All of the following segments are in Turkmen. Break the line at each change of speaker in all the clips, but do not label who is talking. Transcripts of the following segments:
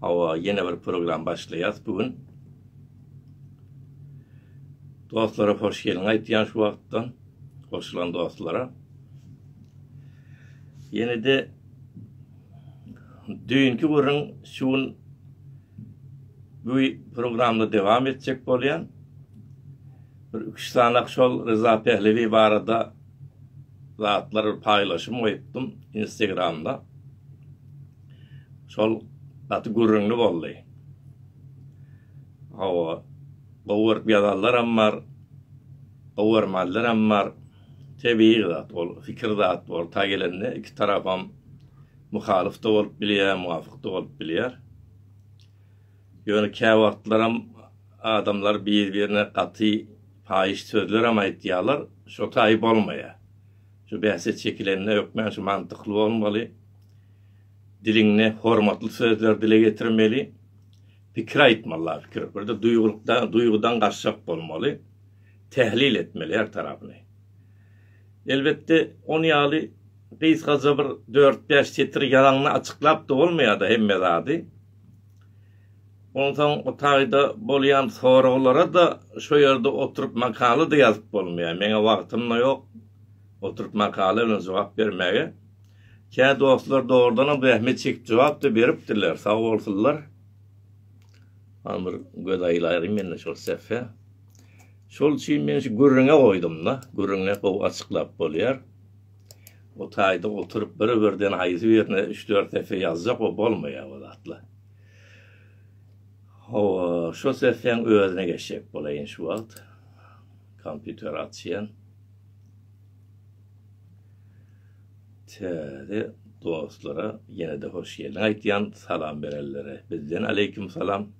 Hawa, ýene bir program başlaýas bu gün. Dostlara hoş gelin aýtýan şu wagtdan. Goşulan dostlara. Ýene de düýnki gürrüň şu gün bu programda dowam etjek bolýan. Bir üç sanak şol Ryza Pehlewi barada zatlar paýlaşym goýupdym Instagramda. Şol gaty gürrüňli boldy. Hawa, gowy görüp ýazanlaram bar, gowy görmänlerem bar. Tebigy zat ol, pikir zat bor. Ta gelende iki tarapam muhalyf-da bolup bilýär, muwafyk-da bolup bilýär. Ýöne käwagtlaram adamlar bir-birine gaty paýyş sözlerem aýtýarlar, şo taýy bolmaýar. Şu bähse çekilende hökmän şu mantykly bolmaly. Diliňde hormatly sözler dile getirmeli. Pikir aýtmaly la pikir. Birde duýgulykda, duýgudan gaçjak bolmaly. Tählil etmeli her tarapyny. Elbetde ony ýaly gysgaja bir dört-bäş setir ýazaňda açyklap-da bolmaýar-da hemme zady. Onsoň o taýda bolýan soraglara-da şo ýerde oturyp makala-da ýazyp bolmaýar. Meň-ä wagtym-da ýok oturyp makala bilen jogap bermäge. Kä dostlar dogrudanam zähmet çekip jogap-da beripdirler, sag bolsunlar. Hany bir göz aýlaýyn men-de şol sähfä. Şol üçin men şu gürrüňe goýdum-da. Gürrüňi gowy açyklap bolýar. O taýda oturyp bir-birden aýdybirine üç-dört esse ýazjak o bolmaýar bu zatlar. Hawa, şo sesleň özüne geçjek bolaýyn şu wagt. Kompýuter açýan. Täze dostlara ýene-de hoş geldiň aýtýan salam berenlere bizden aleýkim salam.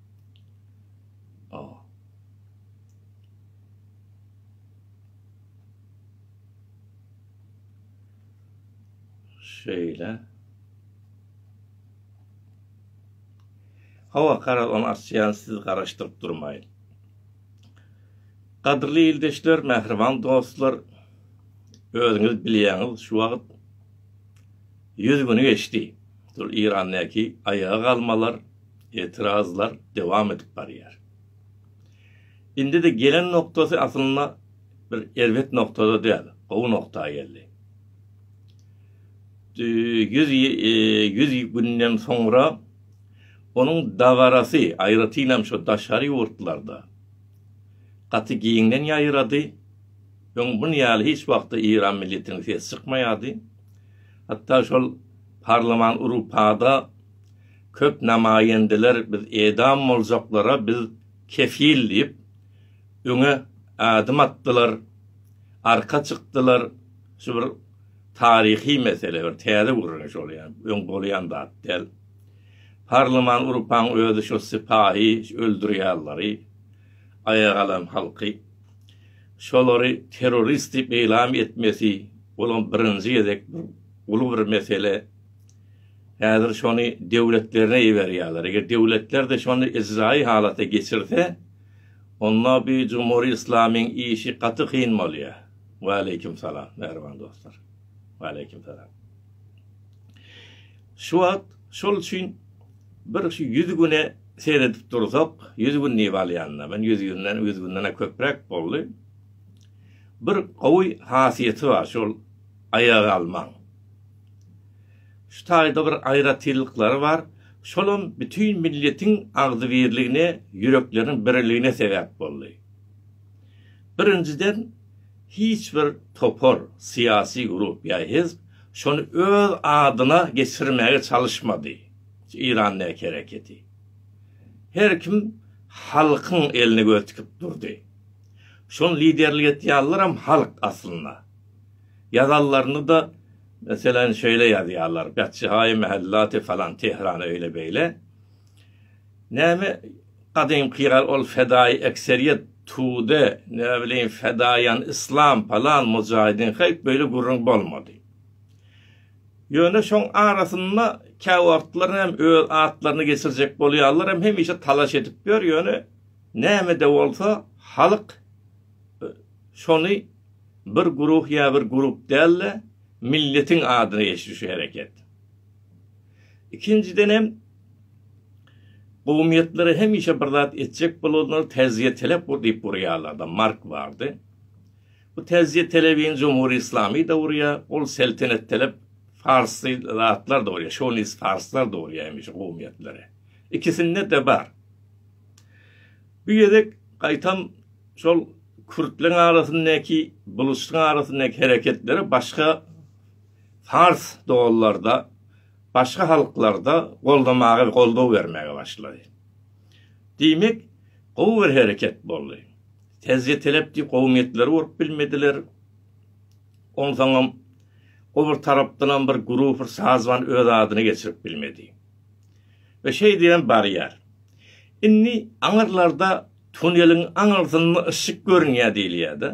Şeýle. Hawa, garaz, ony açýan siz garaşdyryp durmaýyň. Gadyrly ildeşler, mähriban dostlar, özüňiz bilýäňiz, şu wagt ýüz güni geçdi. Şol Irandaky aýaga galmalar, etirazlar dowam edip barýar. Indide gelen noktasy aslynda bir erbet noktada däl, gowy nokta geldi. Ýüz ýüz günden soňra onuň dabarasy, aýratynam şu daşary ýurtlarda gaty giňden ýaýrady. Öň bun ýaly hiç wagtda Eýran milletiniň sesi çykmaýardy. Hatda şol parlaman Urupada köp namaýendeler biz edam boljaklara biz kefil diýip, öňe ädim atdylar, arka çykdylar. Şu bir taryhy mesele, bir täze gürrüňiş ol ýaly, öň bolýan zat däl. Parlaman urupaň özi şo sypahy öldürýärleri, aýaga alan halky. Şolary terrorist diýip eýlam etmesi, olam birinji gezek uly bir mesele. Häzir şony döwletlerine iberýärler. Eger döwletler-de şony ijraýy halata geçirse, onda bu jumhuri yslamyň işi gaty kyn bolýar. Waleýkim salam, mähriban dostlar. Waleýkim salam. Şu wagt şol üçin bir şu ýüz güne seredip dursak, ýüz gün diýip alýan-da, men ýüz günden, ýüz günden-ä köpräk boldy. Bir gowy hasiýeti bar şol aýaga almaň. Şu taýda bir aýratynlyklary bar, şolam bütin milletiň agzybirligine, ýürekleriň biriligine sebäp boldy. Birinjiden, hiç bir topar, syýasy grup ýa hizb şony öz adyna geçirmäge çalyşmady, şu Eýran däki hereketi. Her kim halkyň eline göz tikip durdy. Şony liderlik etýänlerem halk aslynda. Ýazanlaryny-da, meselem, şeýle ýazýarlar, Betjihaýy mähellaty falan, Tehrany öýle-beýle. Näme, gadymky ýaly ol fedaýy ekseriýet, tude, ne bileýin, fedaýan yslam, falan, mujaýidin, heý, beýle gürrüň bolmady. Ýöne şoň arasynda kä wagtlar hem öz atlaryny geçirjek bolýarlar hem hemişe talaş edip ýör, ýöne näme-de bolsa, halk şony bir guruh ýa bir grup däl-de, milletiň adyna geçdi şu hereket. Ikinjidenem, gowumýetlere hemişe bir zat etjek bolanlar täziýe telep ur diýip urýarlar-da, Mark bardy. Bu täziýe telebini Jumhur Islami de urýar, ol seltenet telep farsy zatlar da urýar, şownist farslar da urýar hemişe gowumýetlere. Ikisinde-de bar. Bu gezek gaýtam şol kürtleriň arasyndaky, buluçlaryň arasyndaky hereketleri başga fars doganlarda, başga halklarda goldamaga, goldaw bermäge başlady. Diýmek, gowy bir hereket boldy. Tezje telepdi kowumyýetleri urup bilmediler. Onsoňam o bir tarapdanam bir grup, bir sazman öz adyny geçirip bilmedi. we şeý diýen barýar. Indi aňyrlarda tuneliň aňyrsynda yşyk görünýär diýilýär-de.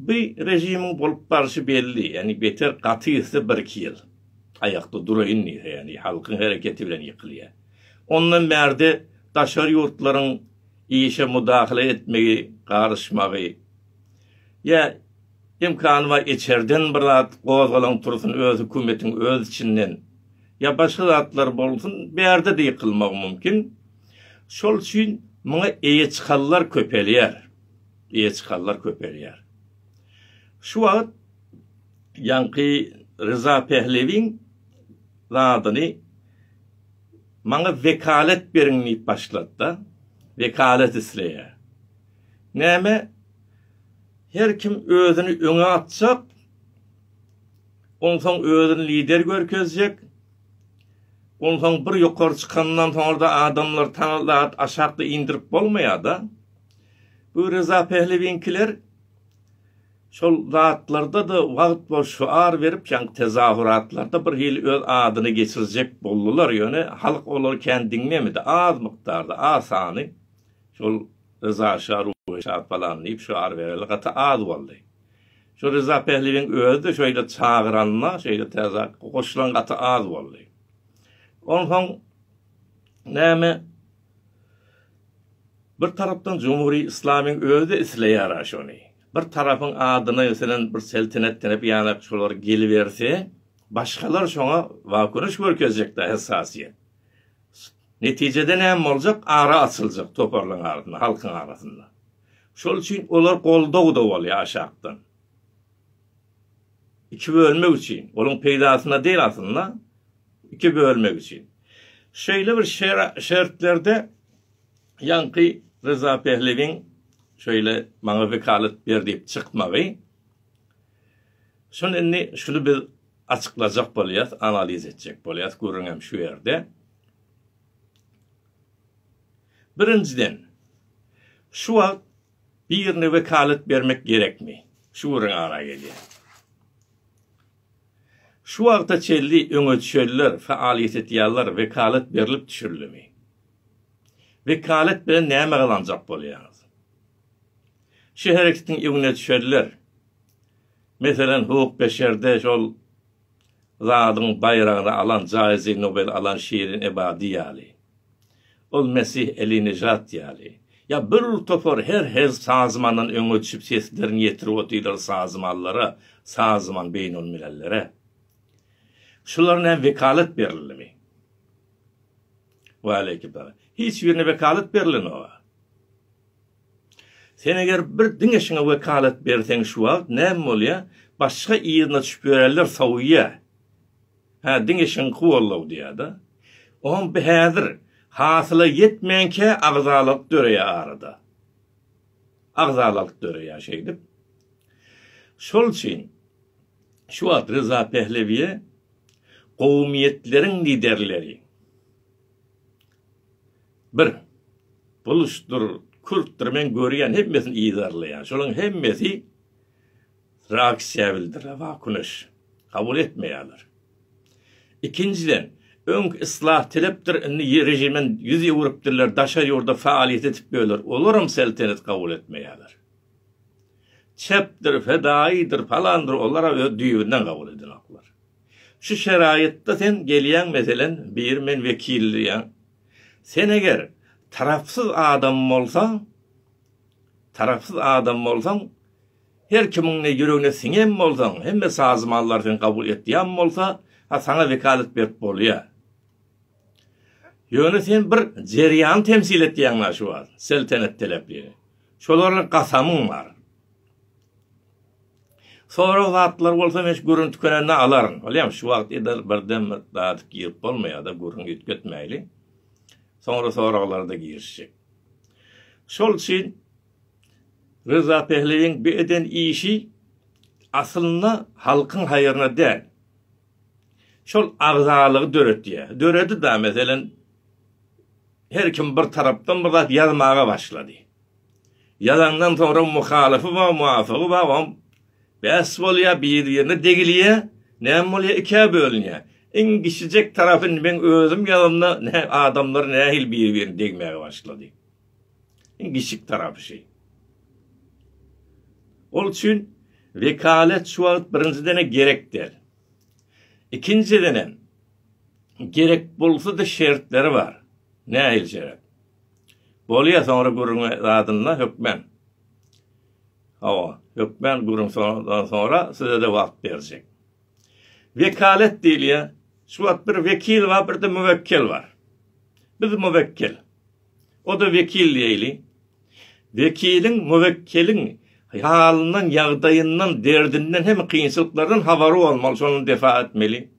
Bu režimiň bolup barşy belli, ýagny beter gaty gitse birki ýyl aýakda duraýyn diýse, ýagny halkyň hereketi bilen ýykylýar. Ondan bärde daşary ýurtlaryň işe mudahale etmegi, garyşmagy ýa Imkany bar içerden bir zat gozgalaň tursun öz hökümetiň öz içinden ýa başga zatlar bolsun bärde-de ýykylmagy mümkin. Şol üçin muňa eýe çykanlar köpelýär. Eýe çykanlar köpelýär. Şu wagt ýaňky Ryza Pehlewiň zadyny maňa wekalet beriň diýip başlady-da. Wekalet isleýär. Näme Her kim özüni öňe atjak, onsoň özüni lider görkezjek, onsoň bir ýokary çykandan soňra-da adamlar taňa zat aşakda indirip bolmaýar-da. Bu Reza Pehlewiňkiler şol zatlarda-da wagt bolup şyar berip, ýaňky tezahüratlarda birhili öz adyny geçirjek boldular, ýöne halk olary kän diňlemedi, az mukdarda, az sany. Şol Ryza şa ruhy şat balam diýip şu ar bereli gaty az boldy. Şu Ryza Pähliwiň özi-de şeýle çagyranda, şeýle täze goşulan gaty az boldy. Onsoň näme Bir tarapdan Jumhuri Islamyň özi isleýär şony. Bir tarapyň adyna ýetilen bir seltenet denip ýanak şolar geliberse, başgalar şoňa waköniş görkezjekde hessasiýet. Netijede näme boljak? Ara açyljak toparlaryň arasynda, halkyň arasynda. Şol üçin olar goldaw-da bolýar aşakdan. Iki bölmek üçin, olaryň peýdasyna däl aslynda, iki bölmek üçin. Şeýle bir şertlerde ýaňky Ryza Pehlewiň şeýle maňa wekalat ber diýip çykmagy, şuny indi, şuny biz Açyklajak bolýas analiz etjek bolýas gürüňem şu ýerde. Birinjiden şu wagt birine wekalet bermek gerekmi? Şu gürüň ara gelýär. Şu wagta çelli öňe çöller faaliýet etýärler wekalet berlip düşürilimi? Wekalet bilen näme gazanjak bolýaňyz? Şu hereketiň öňüne çöller Meselem, Hugh Beşerde şol zadyň baýragyny alan, jaýzy Nobel alan Şirin Ebadi ýaly, ol Mesih Eli Nejat ýaly, ýa bir topar her hezp sazmandan öňe düşüp seslerini ýetirip otyrlar sazmanlara, sazman beýnelmilellere. Şular näme wekalat berildimi? Waleýkim salam. Hiç birine wekalat berilenok-a. Sen eger bir diňe şuňa wekalat berseň şu wagt näme bolýa başga yzyna düşüp ýörärler sowýa hä diňe şuňky bollow diýada on bi häzir hasyla ýetmänkä agzalalyk döreýä arada agzalalyk döreýä şeýdip şol üçin şu wagt Ryza Pehlewiýe gowumýetleriň liderleri Bir. Buluşdyr, kürtdir men görýän hemmesini yzarlaýan. Şolaryň hemmesi reaksiýa bildirýär, wakuneş. Kabul etmeýärler. Ikinjiden, öňki yslah telepdir, indi režimden ýüz öwrüpdirler, daşary ýurda faaliýet edip ýörler, olaram seltenet kabul etmeýärler. Çepdir, fedaýydyr, palandyr, olara öz düýbünden kabul edenoklar. Şu şeraýatda sen gelýäň, meselen, bir men wekildir ýa. Sen eger tarapsyz adam bolsaň, tarapsyz adam bolsaň, her kimiň ne ýüregine siňem bolsaň, hemme sazmallary sen kabul etýän bolsa, ha saňa wekalat berip bolýa. Ýöne sen bir jerýany temsil etýäň a şu wagt, seltenet telaplini. Şolara gasamyň bar. Sorag zatlar bolsa men şu gürrüň tükenende alaryn. Bilýän, şu wagt edil birden bir zady girip bolmaýar-da, gürrüň üýtgetmäýli. Soňra soraglara-da girişjek. Şol üçin Ryza Pehlewiň bu eden işi aslynda halkyň haýryna däl. Şol agzalygy döretýär. Döredi-da, meselem, her kim bir tarapdan bir zat ýazmaga başlady. Ýazandan soňra muhalyfy bar muwafigy bar oňa bäs bolýar biri birine degilýär näme bolýar ikä bölünýär iň kiçijek tarapy meň özüm ýazanda nä adamlar nähili biri birine degmäge başlady iň kiçijik tarapy şeý ol üçin wekalet şu wagt birinjidene gerek däl ikinjidenem gerek bolsady şertleri bar nähili şerat. Bolýa soňra gürüňe zadynda hökmen. Hawa, hökmen gürüň soňra soňra sizede wagt berjek. Wekalet diýilýä. Şu wagt bir wekil bar, birde müwekkel bar. Biz müwekkel. O da wekil diýeli. Wekiliň, müwekkeliň halyndan, ýagdaýyndan, derdinden hem kynçylyklardan habary bolmaly, şony defa etmeli.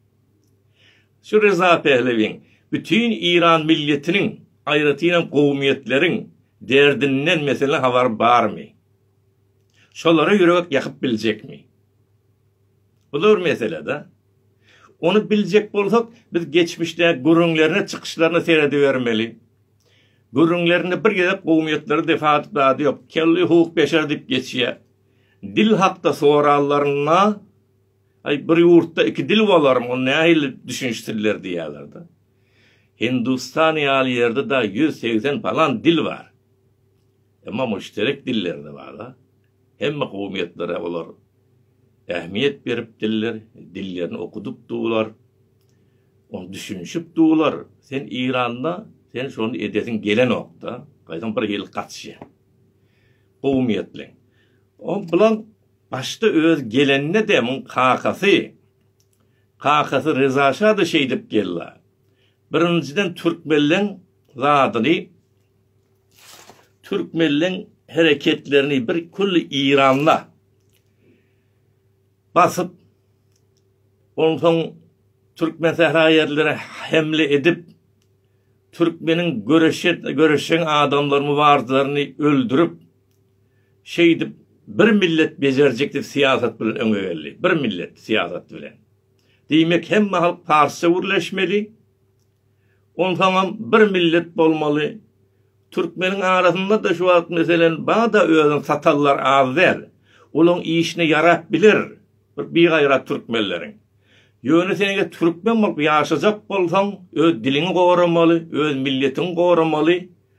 Şu Reza Pehlewiň bütin Iran milletiniň, aýratynam kowumýetleriň derdinden meselen habary barmy? Şolara ýürek ýakyp biljekmi? Bu-da bir mesele-dä. Ony biljek bolsak, biz geçmişdäki gürrüňlerine, çykyşlaryna seredibermeli. Gürrüňlerinde bir gezek kowumýetleri defa atyp zady ýok. Kelli hukuk beşer diýip geçýär. Dil hakda sorallarynda. Aý, bir ýurtda iki dil bolarmy, ony nähili düşüniş diller diýýärler-de. Hindustan ýaly ýerde dagy ýüz segsen palan dil bar. Emma müşterek diller-de bar-a. Hemme kowumýetlere olar ähmiýet berip diller, dillerini okudyp durlar. Ony düşünişip durlar. Sen Eýranda sen şony edesiň gelenok-da. Gaýtam bir ýyl gaçýa. Kowumýetleň. O bilen Başda öz gelende-de muň kakasy, kakasy Ryzaşa-da şeýdip gella. Birinjiden türkmenleň zadyny, türkmenleň hereketlerini bir külli Iranda basyp, onsoň türkmen sähra ýerlere hemle edip, türkmeniň göreşen adamlaryny, mübarislaryny öldürip, Şeýdip, bir millet bejerjikli syýasat bilen öňe geldi. Bir millet syýasat bilen. Diýmek, hemme halk parsça gürleşmeli, onsoňam bir millet bolmaly. Türkmeniň arasynda-da şu wagt, meselem, bada özüni satanlar az däl. Olaryň işine ýarap biler bir bigaýrat türkmenleriň. Ýöne sen eger türkmen bolup ýaşajak bolsaň, öz diliňi goramaly, öz milletiňi goramaly.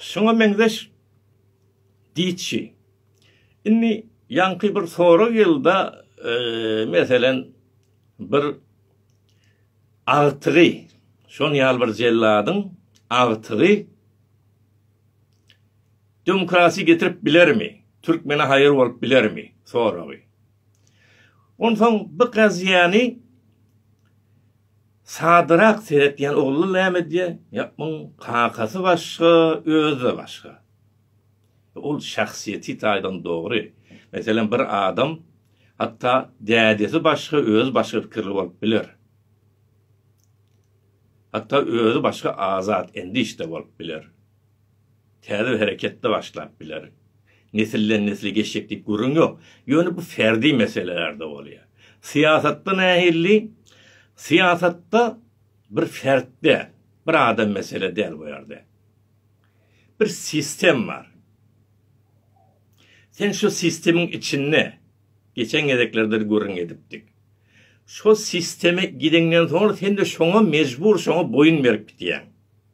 Şuňa meňzeş diýçi. Indi ýaňky bir sorag ýylda e, meselen bir agtygy şon ýaly bir jelladyň agtygy demokrasi getirip bilermi? Türkmene haýyr bolup bilermi? Soragy. Onsoň bu gaziýany Sadyrak seretýän ogly näme edýär? Ýa muň kakasy başga, özi-de başga. Ol şahsyýeti taýdan dogry. Meselem, bir adam hatda dädesi başga, özi başga pikirli bolup biler. Hatda özi başga azat endiş-de bolup biler. Täze hereket-de başlap biler. Nesilden-nesle geçjek diýip gürrüň ýok. Ýöne bu ferdi meselelerde bolýar. Syýasatda nähilli? Syýasatda bir fert däl, bir adam mesele däl bu ýerde. Bir sistem bar. Sen şu sistemiň içinde, geçen gezeklerdir gürrüň edipdik. Şo sisteme gideňden soň sen-de şoňa mejbur, şoňa boýun berip gidýäň.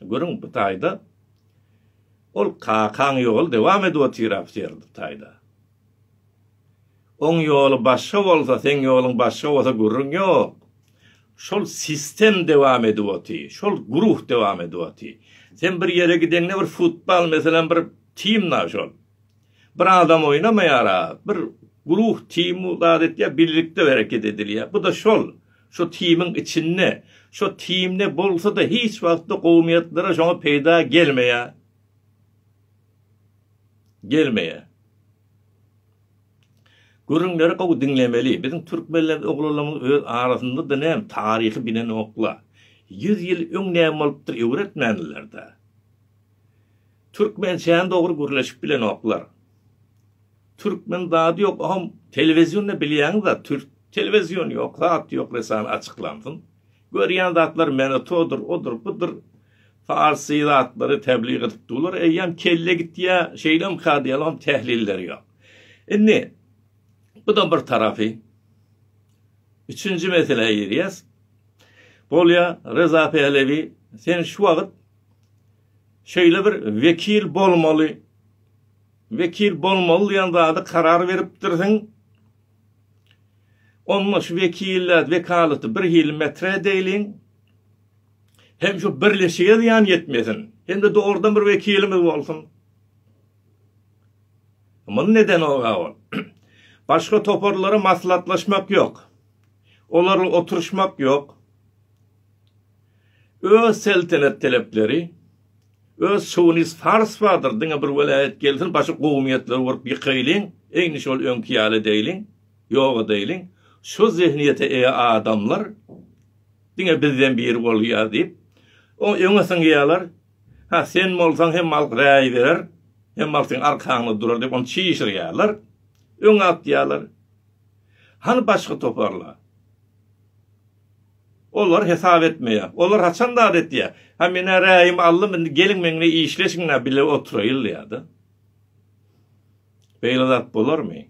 Görüň, bu taýda Ol kakaň ýoly dowam edip otyr ofser bu taýda. Oň ýoly başga bolsa, seň ýoluň başga bolsa gürrüň ýok. Şol sistem dowam edip otyr, şol guruh dowam edip otyr. Sen bir ýere gideňde bir futbal meselem bir team-la şol. Bir adam oýnamaýar-a, bir guruh, tim bu zat etýär, birlikde hereket edilýär. Bu-da şol, şo timiň içinde, şo timde bolsa-da hiç wagtda gowumiýetlere şoňa peýda gelmeýär. Gelmeýär. Gürrüňleri gowy diňlemeli. Biziň türkmenler oglanlarymyz öz arasynda-da näm taryhy bilenoklar. Ýüz ýyl öň näme bolupdyr öwretmändiler-dä. Türkmençäni dogry gürleşip bilenoklar. Türkmen zady ýok ogam telewiziýonda bilýäň zat türk telewiziýony ýok zat ýok resan açyklansyn. Görýän zatlar Meneto-dur odur budur farsy zatlary tebliğ edip durlar eýýäm kelle gitýä şeýlem kadýalam tehlilleri ýok. Indi buda bir tarapy üçünji meselä girýäs. Bolýa Reza Pehlewi sen şu wagyt Şeýle bir wekil bolmaly. Wekil bolmaly diýen zady karar beripdirsiň. Onda şu wekiliýet, wekalaty bir hili metre edeýliň. Hem şu birleşige zyýan ýetmesin. Hem-de dogrudan bir wekilimiz bolsun. Muny nedenok-a ol? Başga toparlara maslahatlaşmak ýok. Olarla oturyşmak ýok. Öz seltenet telepleri, öz şownis fars bardyr, diňe bir welaýat gelsin, başy gowumýetler bolup ýykaýlyň, eýni şol öňki ýaly edeýliň, ýok edeýliň, şo zehniýete eýe adamlar diňe bizden biri bolýar diýip, oňa öňe syňýarlar, ha sen bolsaň hem halk raý berer, hem halk seň arkaňda durar diýip ony çişirýärler, öňe atýarlar. Hany başga toparlar? Olar hesap etmeýär. Olar haçan zat etýär? Ha men-ä raýym aldym, indi geliň meňle işleşiň-ä, bile oturaýyl diýýär-de. Beýle zat bolarmy?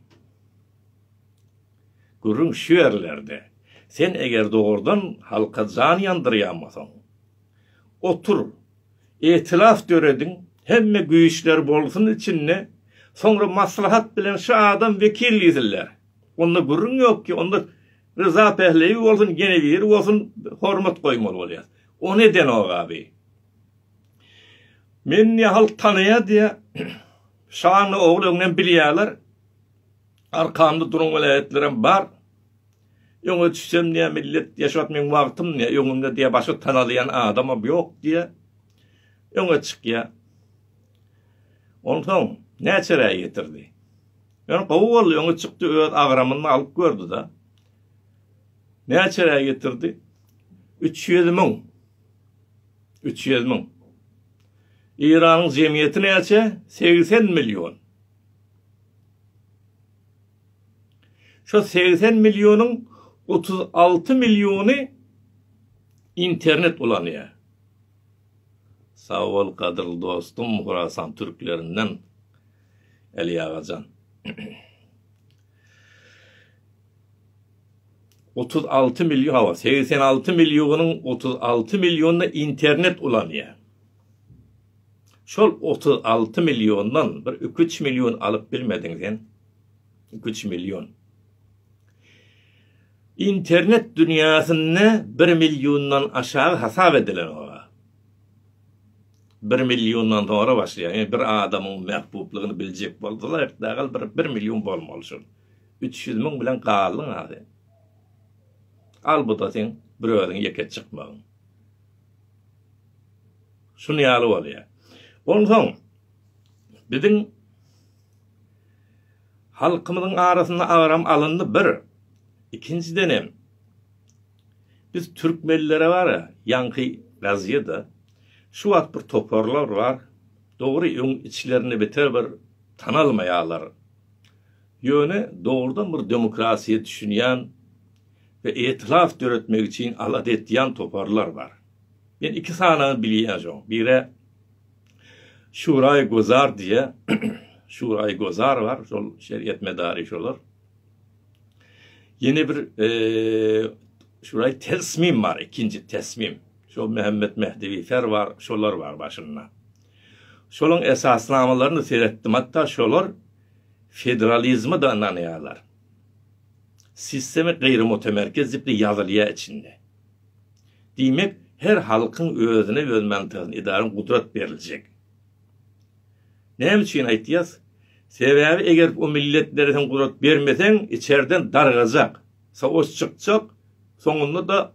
Gürrüň şu ýerlerde. Sen eger dogrudan halka jan ýandyrýanmasaň, otur, etilaf dörediň, hemme güýçler bolsun içinde, soňra maslahat bilen şu adam wekil diýsinler. Onda gürrüň ýok ki, onda Ryza Pähleýew bolsun, ýene biri bolsun hormat goýmaly bolýar. Ony edenok abi. Meni ne halk tanaýar diýä. Şanly ogul öňden bilýärler. Arkamda duran welaýatlarym bar. Öňe düşsem diýä millet ýaşap meň wagtym diýä, öňümde diýä başga tanalýan adamam ýok diýä. Öňe çykýa. Onsoň näçe raý getirdi? Ýöne gowy boldy, öňe çykdy, öz agramyny alyp gördi-de. Näçerä getirdi? Üç ýüz müň. Üç ýüz müň. Eýranyň jemgyýeti näçe? Segsen million. Şo segsen millionyň otuz alty milliony internet ulanýar. Sag bol, gadyrly dostum, Horasan türklerinden. Eli agajan. Otuz alty milýon, hawa, segsen alty milýonyň otuz alty milýonyna internet ulanýar. Şol otuz alty milýondan bir iki üç milýon alyp bilmediň sen. Iki üç milýon. Internet dünýäsinde bir milýondan aşagy hasap edilen ora. Bir milliondan soňra başlaýar. Ýöne bir adamyň mähbublygyny biljek bolsalar ertdagal bir bir million bolmaly şol. Üç ýüz müň bilen galdyň a sen. Al bu-da seň bir özüň ýeke çykmagyň. Şun ýaly bolýar. Onsoň biziň halkymyzyň arasynda agram alyndy bir. Ikinjiden hem Biz türkmenlere bara ýaňky razýeda şu wagt bir toparlar bar dogry öň içlerinde beter bir tanalmaýalar ýöne dogrudan bir demokrasiýa düşünýän we etilaf döretmek üçin alada etýän toparlar bar men iki sanaňy bilýän şoň bire şuraý gozar diýýä şuraý gozar bar şol şeriýet medary şolar. Ýene bir şuraý tesmim bar, ikinji tesmim. Şo Mehmet Mehdewi Fer bar, şolar bar başynda. Şolaryň esasnamalaryny seretdim, hatda şolar federalizme da ynanýarlar. Sistema gaýry mutamerkez diýip ýazylýar içinde. Diýmek, her halkyň özüne öz mantagyny edara gudrat beriljek. Näme üçin aýtýas? Sebäbi eger o milletlere sen gudrat bermeseň içerden dargajak, savaş çykjak, soňunda-da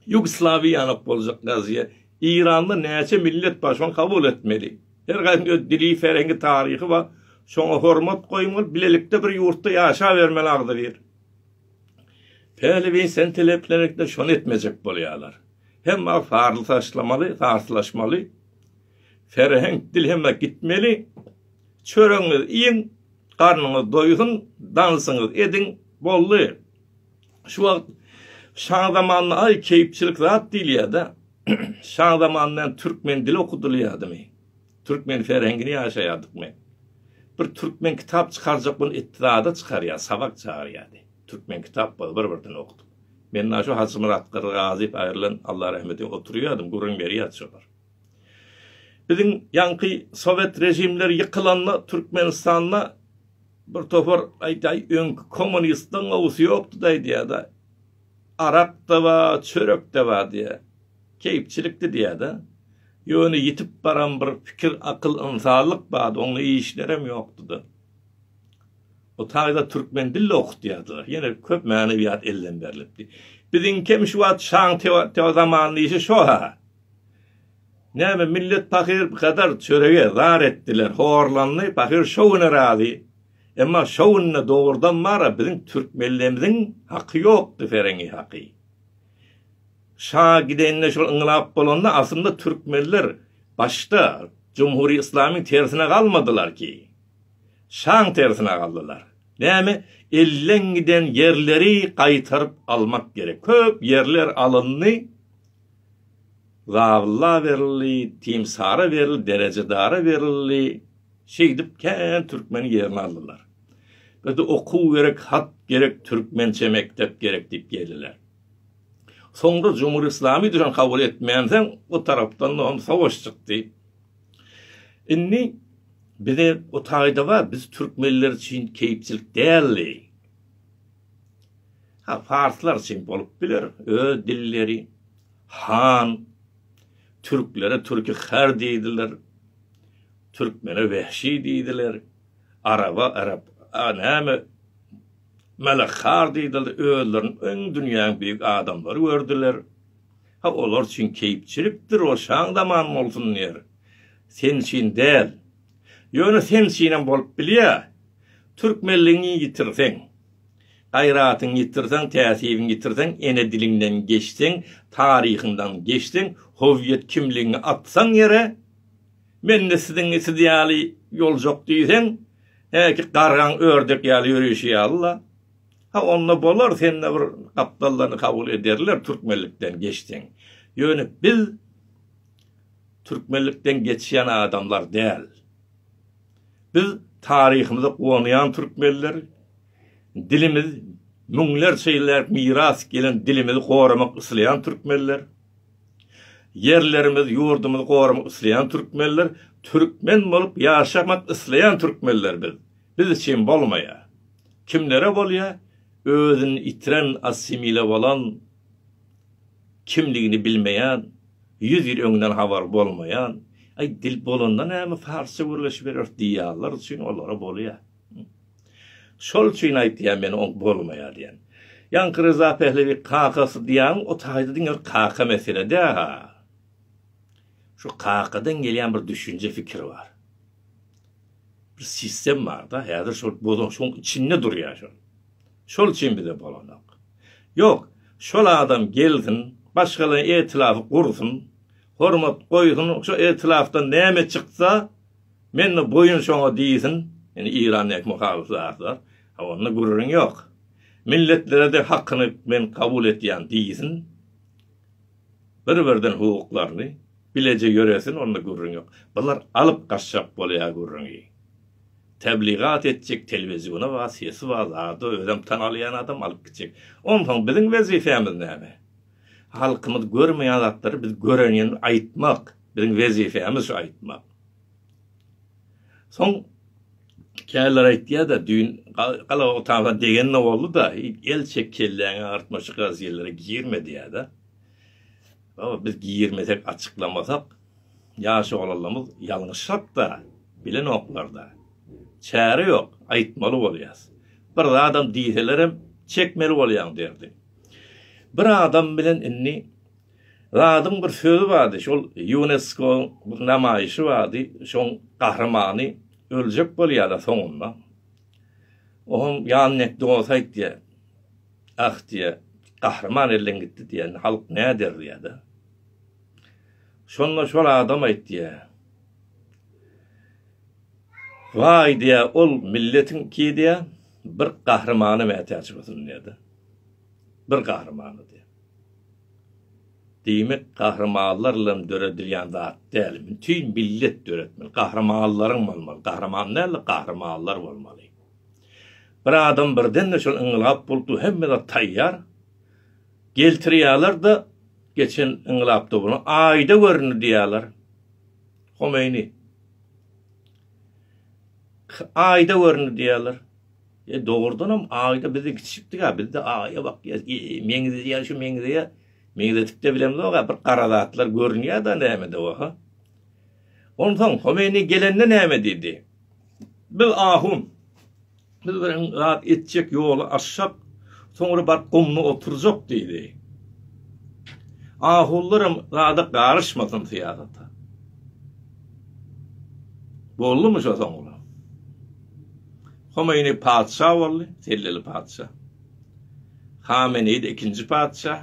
Ýugoslawiýa ýanap boljak gazyýa. Eýranda näçe millet bar şony kabul etmeli. Her gaýsynyň öz dili, ferengi, taryhy bar. Şoňa hormat goýuň bolup bilelikde bir ýurtda ýaşabermeli agzybir. Päliwin sen teleplenekde şony etmejek bolýalar. Hemme farly taşlamaly, farslaşmaly. Serheň dilheme gitmeli. Çöregiňizi iýiň, garnyňyz doýsun, dansyňyzy ediň, boldy. Şu wagt şaň zamanynda aý keýpçilik zat diýilýär-dä. Şaň zamanynda hem türkmen dili okudylýardymy? Türkmen serhengini ýaşaýardykmy? Bir türkmen kitap çykarjak bolup etdi zada çykarýar, sabak çagyrýardy. Türkmen kitap bar, bir-birden okudyk. Men-ä şu Hajymyrat Gyrgazyýew aýrylan, Alla rahmet eýsin, oturýardym, gürrüň berýärdi şolar. Biziň ýaňky sowet režimleri ýykylanda Türkmenistanda bir topar aýdaý öňki kommunistligiň gowusy ýokdy-da aýdýar-da. Arak-da ba, çörek-de ba diýýär. Keýpçilikdi diýýär-de. Ýöne ýitip baran bir pikir, akyl, ynsanlyk bardy, oňly işlerem ýokdy-da. O taýda türkmen dilde okutýardylar. Ýene köp manewýat elden berlipdi. Biziňkem şu wagt şaň-temur zamanyny diýşi şo-ha. Näme, millet pahyr bu kadar çörege zar etdiler, horlandy, pahyr şo güne razy. Emma şo günde dogrudan bara biziň türk mellemiziň haky ýokdy, ferengi haky. Şa gidende şol yňlap bolanda aslynda türkmenler başda jumhuri yslamiň tersine galmadylar ki. Şaň tersine galdylar. Näme, elden giden ýerleri gaýtaryp almak gerek. Köp ýerler alyndy. Zabylla berildi, timsara berildi, derejedara berildi, şeýdip kän türkmeniň ýerini aldylar. Bize okuw gerek, hat gerek, türkmençe mekdep gerek diýip geldiler. Soňra Jumhur Islami düşen kabul etmänsoň, o tarapdan-da hem sowaş çykdy. Indi bize o taýda bar, biz türkmenler üçin keýpçilik däldi. Ha, parslar üçin bolup biler, öz dilleri, han, türklere türki her diýdiler, türkmene wehşi diýdiler, araba, arap, a, näme, melekhar diýdiler, özlerini öň dünýäň büyük adamlary gördüler. Ha, olar üçin keýpçilikdir, o şaň zaman bolsun diýer. Sen üçin däl. Ýöne sen üçinem bolup bilýär. Türkmenligiňi ýitirseň, Gaýratyňy ýitirseň, täsiriňi ýitirseň, ene diliňden geçseň, taryhyňdan geçseň, howiýet kimligiňi atsaň ýere, mende siziň siz ýaly ýoljok diýseň, häki gargaň ördek ýaly ýöreýşi ýaly-la. Ha, onda bolar, sende bir gapdallygyny kabul ederler, türkmenlikden geçseň. Ýöne biz türkmenlikden geçýän adamlar däl. Biz taryhymyza guwanýan türkmenler, dilimiz müňlerçe ýyllap miras gelen dilimizi goramak isleýän türkmenler, ýerlerimiz, ýurdumyzy goramak isleýän türkmenler, türkmen bolup ýaşamak isleýän türkmenler biz. Biz üçin bolmaýar. Kimlere bolýar? Özüni itiren, assimile bolan, kimligini bilmeýän, ýüz ýyl öňden habary bolmaýan, Aý, dil bolanda näme, parsça gürleşibereris diýýänler üçin olara bolýar. Şol üçin aýtýan men oň bolmaýar diýen. Ýaňky Ryza Pählewi kakasy diýýäň, o taýda diňe bir kaka mesele däl-a. Şu kakadan gelýän bir düşünje, pikir bar. Bir sistem bar-da, häzir şol bozuluşygyň içinde durýar şol. Şol üçin bize bolanok. Ýok, şol adam gelsin, başgalaýyn etilafy gursyn, hormat goýsun, şo etilafdan näme çyksa, men-de boýun şoňa diýsin, indi Iran näki muhalyf zatlar, ha onda gürrüň ýok. Milletlere de hakyny men kabul etýän diýsin, bir-birden hukuklaryny bileje ýöresin, onda gürrüň ýok. Bular alyp gaçjak bolýar gürrüňi. Tebligat etjek telewiziona bar, sesi bar, zada özem tan alýan adam alyp gitjek. Onsoň biziň wezipemiz näme? Halkymyz görmeýän zatlary biz görenini aýtmak. Biziň wezipemiz şu aýtmak. Soň käler aýtýada düýn galaga otagda degende bolduda, el çek kelläňi agyrtma şu gazýellere girme diýýada. Baba biz girmesek açyklamasak, Ýaş oglanlarymyz ýalňyşsak-da, bilenoklar-da. Çäre ýok, aýtmaly bolýas. Bir zadam diýselerem, çekmeli bolýaň derdi. Bir adam bilen indi Radyň bir sözi bardy, şol Ýuneskoň bir namaýşy bardy, şoň gahrymany öljek bolýar-a soňunda. O hem ýanekdosy aýtýar. Ah diýýär, gahryman elden gitdi diýýär, indi halk näder diýýär-de. Şonda şol adam aýtýar. Waý diýýär, ol milletiň ki diýýär, bir gahrymana mätäç bolsun diýýär-de. Bir gahrymana diýýär. Diýmek, gahrymanlar bilen döredilýän zat däl, bütin millet döretmeli, gahrymanlaryň bolmaly, gahryman däl-de, gahrymanlar bolmaly. Bir adam birden-de şol yňylgap bolup dur, hemme zat taýýar. Geltirýäler da geçen yňlapda bunu aýda göründi diýýäler. Homeýni. Aýda göründi diýýäler. E dogrudanam aýda bizi kiçikdiga bizde aýa bak ýa meňzi ýa şu meňzi ýa meňzetipde bilemzok ha bir gara zatlar görünýär da näme de oha. Ondan Homeýni gelende näme diýdi? Biz ahun. Biz bilen zat etjek ýoly aşjak, soňra baryp gumda oturjak diýdi. Ahullaram zada garyşmasyn syýasata. Boldumy şo soňra? Homeýni patyşa boldy, selleli patyşa. Hameneýde ikinji patyşa.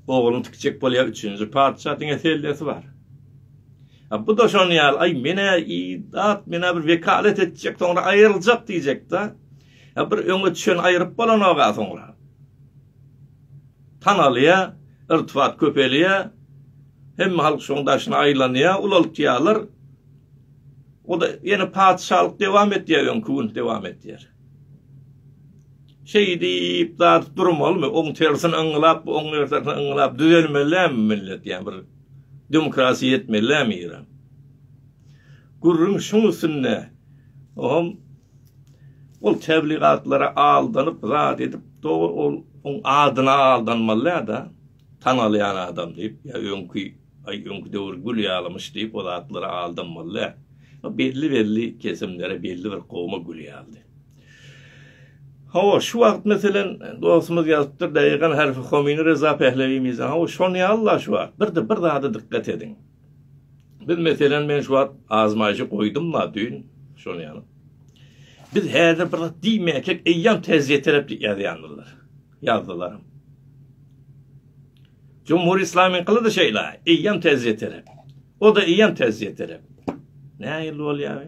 Ogluny tikjek bolýar üçünji patyşa, diňe sellesi bar. A bu-da şonuň ýaly, aý, men-ä idat, men-ä bir wekalet etjek, soňra aýryljak diýjek-dä. A bir öňe çen aýryp bolanok-a soňra. Tanalýa, irtibat köpelýä, hemme halk şoň daşyna aýlanýa, ulaltýalar. O-da ýene patyşalyk dewam etýär, öňki gün dewam etýär. Şeýdip, zat durmalymy? Oň tersini yňlap, oň ertesini yňlap düzelmeli-dämi millet, ýa bir Demokrasiýa etmelilämi Eýran? Gürrüň şuň üstünde. Ohm ol tebligatlara aldanyp zat edip dogry ol oň adyna aldanmalydada tanalýan adam diýip ýa öňki aý öňki döwür gül ýalymyş diýip o zatlara aldanmalyda. Belli belli kesimlere belli bir gowma gül ýaldy. Hawa, şu wagt meselen, dostumyz ýazypdyr, Daýegan harfi homini Reza Pählewi mizan. Hawa, şony ýaly-la şu wagt. Bir-de bir zada dykgat ediň. Biz meselen, men şu wagt azmaýşy goýdum-la düýn, şony ýaly. Biz häzir bir zat diýmäkek, eýýäm täjiýe tarap ýazýandylar. Ýazdylaram. Jumhur Islamiň kylydy şeýle, eýýäm täjiýe tarap. O-da eýýäm täjiýe tarap. Nähili bolýar?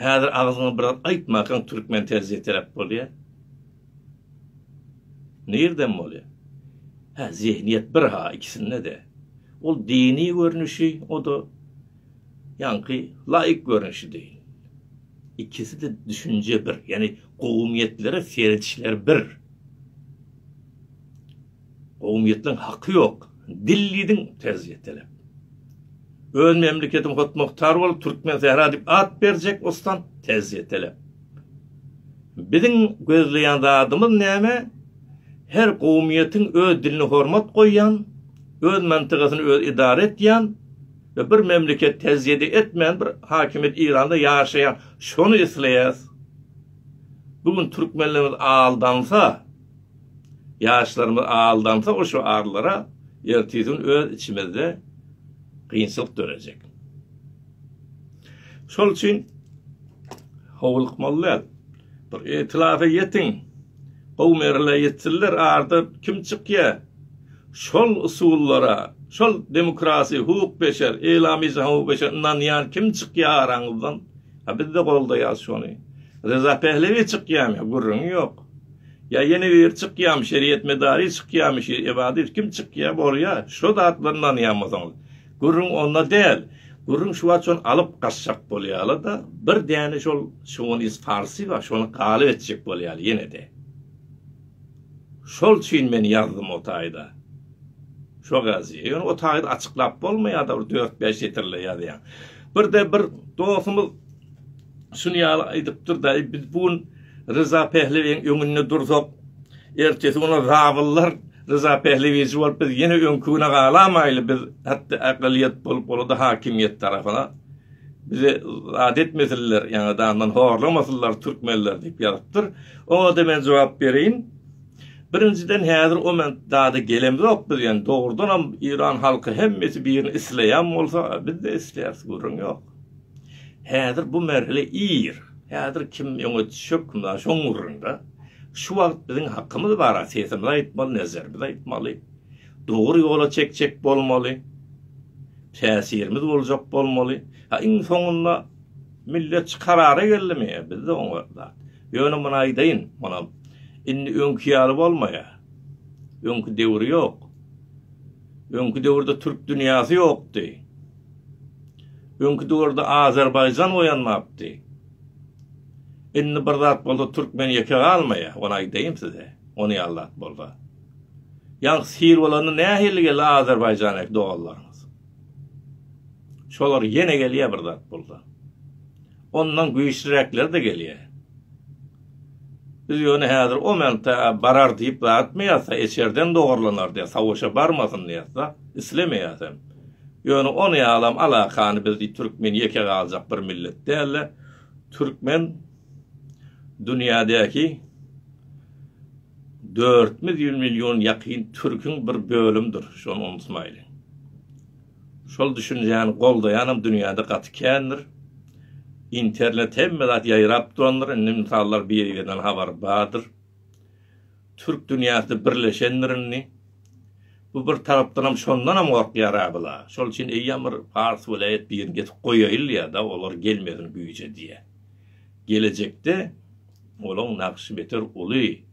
Häzir agzyňy bir zat aýtmakaň türkmen terziýe terep bolýa. Nirden bolýa? Hä, zehniýet bir ha ikisinde-de. Ol dini görnüşi, o-da ýaňky laýyk görnüşi deý. Ikisi-de düşünje bir, ýagny gowumyýetlere seredişleri bir. Gowumyýetleň haky ýok dil diýdiň terz ýetelep. Öz memleketiň hotmogtar bolup türkmen sähra diýip at berjek ostan tez ýetelep. Biziň gözleýän zadymyz näme? Her gowumyýetiň öz dilini hormat goýýan, öz mantygasyny öz edara etýän we bir memleket tezýede etmän bir hakimiýet Iranda ýaşaýan şony isleýäs. Bu gün türkmenlerimiz aldansa, Ýaşlarymyz aldansa o şygarlara ertesi-gün öz içimizde gynçylyk dörejek. Şol üçin howlukmaly däl. Bir ýetilasa ýetiň. Gowy merhele ýetsinler arda kim çykýa. Şol usullara, şol demokrasi, hukuk beşer, eýlamyja hukuk beşer ynanýan kim çykýa araňyzdan. Ha bizde goldaýas şony. Reza Pehlewi çykýamy? Gürrüňi ýok. Ýa ýene ýer çykýamy, şeriýet medary çykýamy, şi ebadys kim çykýa, bolýa, şo zatlar nanýanmysyňyz? Gürrüň onda däl. Gürrüň şu wagt şony alyp gaçjak bolýala-da, bir däne şol şownys farsy bar, şony galyp etjek bolýaly ýene-de. Şol üçin men ýazdym o taýda. Şo gazy. Ýöne o taýda açyklap bolmaýa-da, bir dört-bäş setirle ýazýaň. Bir-de bir dostumyz şuny ýaly aýdypdyr-da, biz bu gün Ryza Pehlewiň öňünde dursak, ertesi gün ol zabyllar Ryza Pehlewiçi bolup biz ýene öňki güne galamaýly, biz hatda akylyýet bolup bolada hakimiýet tarapyna bizi zat etmesinler, ýaňy dandan horlamasynlar türkmenler diýip ýazypdyr. Oňada men jogap bereýin. Birinjiden häzir o men dada gelemzok biz ýaňy dogrudanam Iran halky hemmesi birini isleýän bolsa biz-de isleýäris gürrüň ýok. Häzir bu merhile ir. Häzir kim öňe düşekm-la şoň gürrüňde. Şu wagt biziň hakymyz bar-a, sesimizi aýtmaly, nezerimizi aýtmaly. Dogry ýola çekjek bolmaly. Täsirimiz boljak bolmaly. Ha iň soňunda millet şu karara geldimi? Bizde oňa zat. Ýöne muny aýdaýyn, munam indi öňki ýaly bolmaýar. Öňki döwür ýok. Öňki döwürde türk dünýäsi ýokdy. Öňki döwürde Azerbaýjan oýanmapdy. Indi bir zat bolsa türkmen ýeke galmaýa, ony aýdaýyn size, ony ýaly zat bolsa. Ýaňky sil bolanda nähili geldi Azerbaýjandäki doganlarymyz? Şolar ýene gelýär bir zat bolsa. Ondan güýçliräkleri-de gelýär. Biz ýöne häzir o menta barar diýip zatmyýas-a, eçerden dogarlanar diýýäs, savaşa barmasyn diýýäs-de, islemeýäs hem. Ýöne ony ýalam alakany biz diý türkmen ýeke galjak bir millet däl-de, türkmen dünýädäki dört ýüz million ýakyn türküň bir bölümidir, şony unutmaýlyň. Şol düşünjäni goldaýanam dünýäde gaty kändir. Internet hemme zat ýaýrap durandyr, indi mysallar bir-birinden habar bardyr. Türk dünýäsi birleşendir indi. Bu bir tarapdanam şondanam gorkýar-a bula. Şol üçin eýýäm bir pars welaýat birini getirip goýaýylýa-da, olar gelmesin güýje diýýä. Gelejekde olaň nagşy beter uly.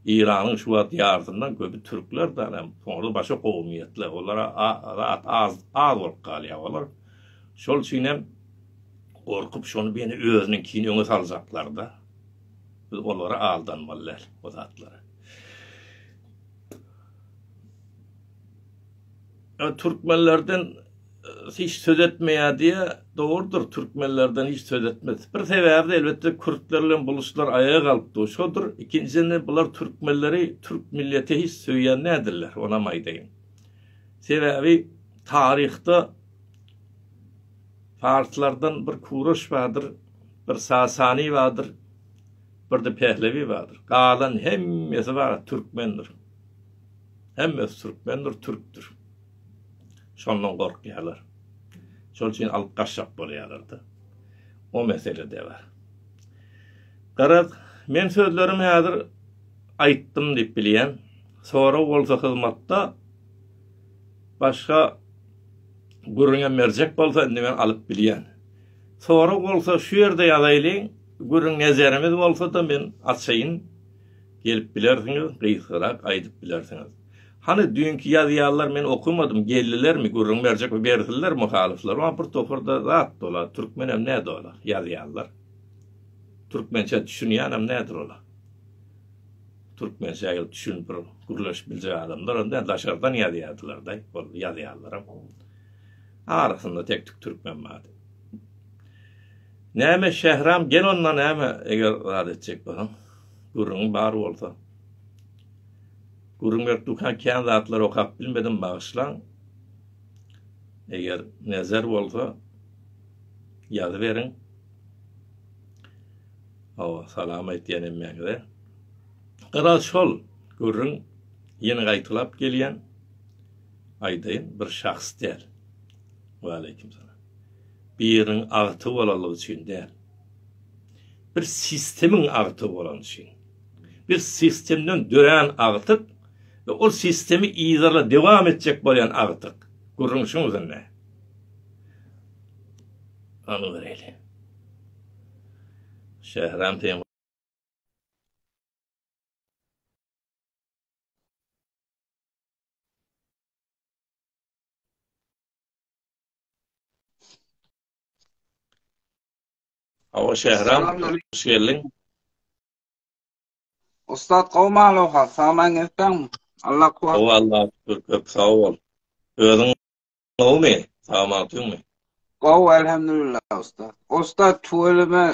Iranyň şu wagt ýarysyndan köpi türkler däl hem soňra başga kowumyýetler olara zat az az bolup galýar olar şol üçin hem gorkup şony beni özüniňkini öňe saljaklarda biz olara aldanmaly däl o zatlara. Ýa türkmenlerden hiç söz etmeýär diýýär. Dogrudyr, türkmenlerden hiç söz etmez. Bir sebäbi-de elbetde kürtler bilen buluşlar aýaga galypdygy şodur. Ikinjiden-de bular türkmenleri türk milleti hiç söýýän däldirler, onam aýdaýyn. Sebäbi taryhda parslardan bir Kuroş bardyr, bir Sasani bardyr, bir-de Pehlewi bardyr. Galan hemmesi bar türkmendir. Hemmesi türkmendir, türkdür. Şondan gorkýarlar. Şol üçin alyp gaçjak bolýarlar-da. O mesele-de bar. Garaz, men sözlerimi häzir aýtdym diýip bilýän. Sorag bolsa hyzmatda başga gürrüňe merjek bolsa indi men alyp bilýän. Sorag bolsa şu ýerde ýazaýlyň, gürrüň nezerimiz bolsa-da men açaýyn. gelip bilersiňiz, gysgarak aýdyp bilersiňiz. Hany düýnki ýazýarlar men okamadym geldilermi gürrüň berjek we bersinler muhalyflar oň bir toparda zat dola türkmenem näde ola ýazýarlar türkmençe düşünýänem nädir ola türkmençe gelip düşün bir gürleşip biljek adamlar onda daşardan ýazýardylar da ol ýazýarlaram arasynda tek tük türkmen bar näme şähram gel onda näme eger zat etjek bolsaň Gürrüňiň bar bolsa. Gürrüň berip durka kän zatlary okap bilmedim bagyşlaň. Eger nezer bolsa ýazyberiň. Hawa, salam aýtýan hemmäňize. Gara şol gürrüň ýene gaýtalap gelýän. Aýdaýyn, bir şahs däl. Waleýkim salam. Biriniň agty bolalygy üçin däl. bir sistemiň agtygy bolany üçin, bir sistemden dörän agtyk we ol sistemi yzyla dowam etjek bolýan agtyk, gürrüň şuň üzerine. Ony göreýli. Şähram teýin Hawa Şähram, hoş geldiň.
Ussat gowy maluha, saglan gelseň, Allah kuwat. Gowy Allah şükür, köp
sag bol. Özüň gowumy? Sagman tüňmi? Gowy elhamdülillah
ussat. Ussat tüweleme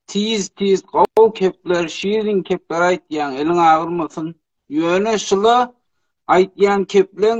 tiz tiz gowy kepler, şirin kepler aýtýaň, eliň agyrmasyn. Ýöne şula aýtýan kepleň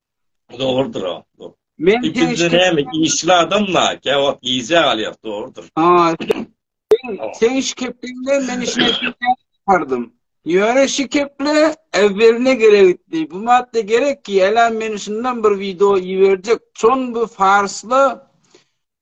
Dogrudyr
o. Men Üçünji
näme
işli adamla, käwagt gije galýar, dogrudyr. Ha.
Sen iş kepdiňde men işe gitdim. Ýöne şu keple äwweline gerekdi. Bu madda gerek ki, ela men şundan bir video iberjek. Çon bu farsla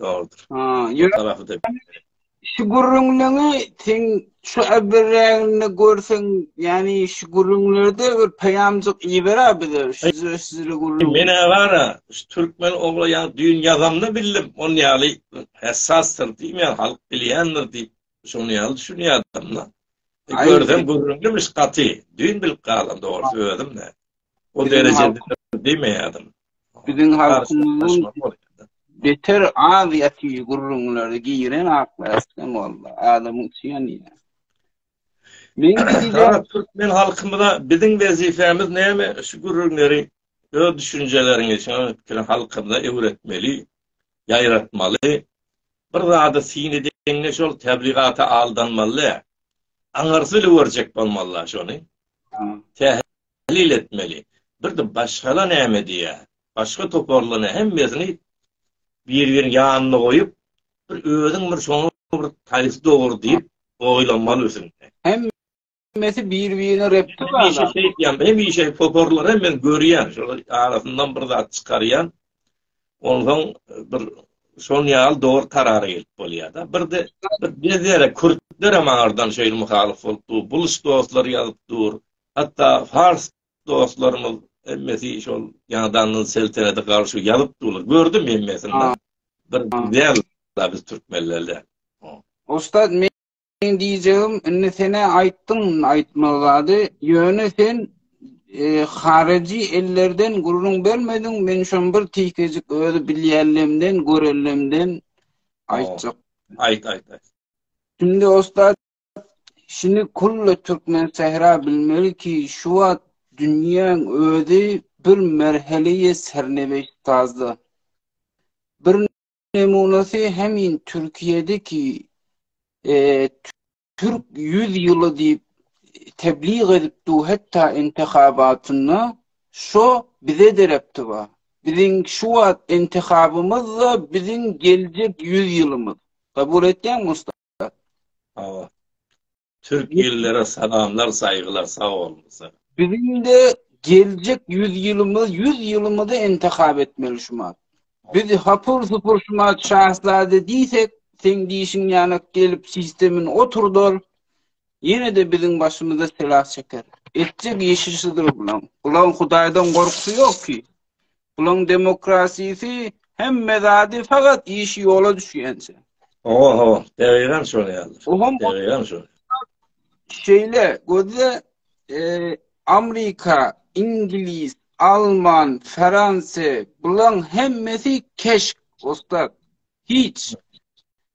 Dogrudyr. Ha, ýöne
şu gürrüňleňi sen şu äbirräginde görseň, ýani şu gürrüňlerde bir peýamjyk iýibera bize, şu sizli gürrüň. Men agara,
şu türkmen ogla ýa düýn ýazamda bildim, on ýaly hessasdyr diýip, ýa halk bilýändir diýip, şonuň ýaly düşünýärdim da. E, görsem gürrüňlümiş gaty, düýn bilip galan dogry özüm de. O derejede diýmeýärdim. Biziň halkymyzyň
beter aziýaty gürrüňleri giren aklardan boldy. Adamyň üçin ýa. Men diýýän türkmen halkymyza
biziň wezipemiz näme? Şu gürrüňleri öz düşünjeleriňi, şu pikiri halkymyza öwretmeli, ýaýratmaly. Bir zady syn edende şol tebligaty aldanmaly. Aňyrsyz öwürjek bolmaly şony. Täze Tahlil etmeli. Birde başgala näme diýýä? Başga toparlana hemmesini bir birin ýanyna goýup bir özüň bir şoňa bir haýsy dogry diýip oýlanmaly ösünde. Hemmesi
bir birine repti bar. Hemişe şeý diýýän, hemişe
toparlana men görýän şolar arasyndan bir zat çykarýan. Onsoň bir şoň ýaly dogry karara gelip bolýada. Birde bir gezere kürtlere maňardan şeýle muhalyf bolup dur. Buluş dostlar ýazyp dur. Hatda fars dostlarymyz hemmesi şol ýaňdandan seltenete garşy ýazyp durlar. Gördüm hemmesini. Bir güzel biz türkmenlerde. Ustad
men Senin diyeceğim, indi sene ayttın aytmazadı, yöne sen e, harici ellerden gurrun bermedin, men şun bir tikecik özü bilýänlemden, görellemden aytcak.
Ayt, ayt, ayt. Şimdi
ustad, Şuny kulli türkmen sähra bilmeli ki, şu wagt dünýäň özi bir merheleýe serneweşt sazda. Bir nemunasy hemin Türkiýedi ki, türk ýüz ýyly diýip tebliğ edip du hetda intihabatynda şo bize derepti ba. Biziň şu wagt intihabymyz da biziň geljek ýüz ýylymyz. Kabul etýäňmi usta? Awa. Awa.
Türk illere salamlar, saýgylar, sag boluň. Biziň-de
geljek 100 ýylymyz, 100 ýylymyzy intihap etmeli şuma. Biz hapur-supur şuma şahzade diýsek, seň diýşiň ýaly gelip sistemin oturdar. Ýene-de biziň başymyza sela çeker. Etjek işi şudur bulaň. Bulaň Hudaýdan gorkusy ýok ki. Bulaň demokrasisi hemme zady fagat işi ýola düşýänçe. Oho ho,
degigan şol ýaly. Oho, degigan şol. Şeýle
gözle e, Amerika, Ingliz, Alman, Fransiýa bulaň hemmesi keşk, usta. Hiç.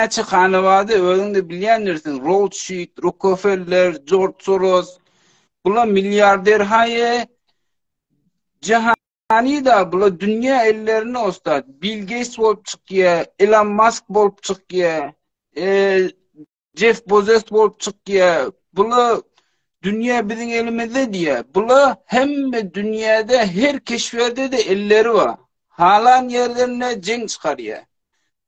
Näçe hana bardy, özüň-de bilýändirsiň, Rothschild, Rockefeller, Jorj Soros, bular milliarder haýy, jahanyda bular dünýä ellerini ostat, Bill Gates bolup çykýar, Elon Musk bolup çykýar, Jeff Bezos bolup çykýar, bular dünýä biziň elimizde diýýär. Bular hemme dünýäde her keşberde-de elleri bar. Halan ýerlerinde jeň çykarýar.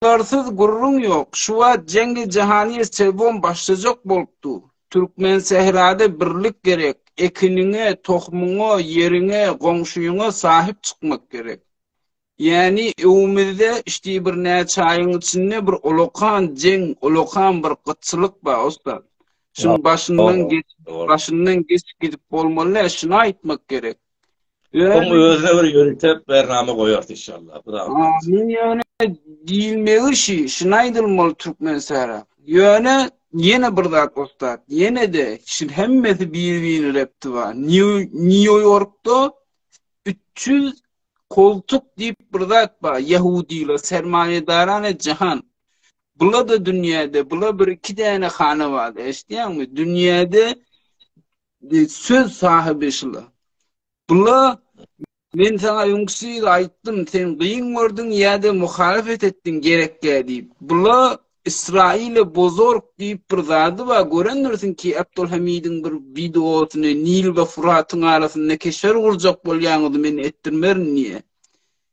Ýaryşyklarsyz gürrüň ýok, şu wagt jeňli jahanyýet sebon başlajak bolup dur. Türkmensährada birlik gerek, ekiniňe, tohumyňa, ýeriňe, goňşyňa sahyp çykmak gerek. Ýäni öwümizde işdi birnäçe aýyň içinde bir ulakan jeň, ulakan bir gytçylyk bar ussat. Şuň başyndan geç, başyndan geçip gidip bolmaly däl, şuny aýtmak gerek. Öň
özüne bir ýörite bernama goýarys inşallah. Amin ýöne
diýilmegi şi, şuna aýdylmaly türkmen sära. Ýöne ýene bir zat ussat, ýene-de şin hemmesi bir-birini repti bar. Nýu-Ýorkda 300 koltuk diýip bir zat bar, ýehudylar, sermaýedarana jahan. Bula-da dünýäde, bula bir-iki däne hana bar, eşitýäňmi? Dünýäde Söz sahyby şula. Bula men sana öňküsi aýtdym, sen gyn gördüň ýa-da muhalefet etdiň gerekge diýip. Bula Israile bozork diýip bir zady bar. Görendirsiň ki, Abdulhamidiň bir wideosyny Nil we Furatyň arasynda keşer gurjak bolýanyňyzy men etdirmerin diýýär.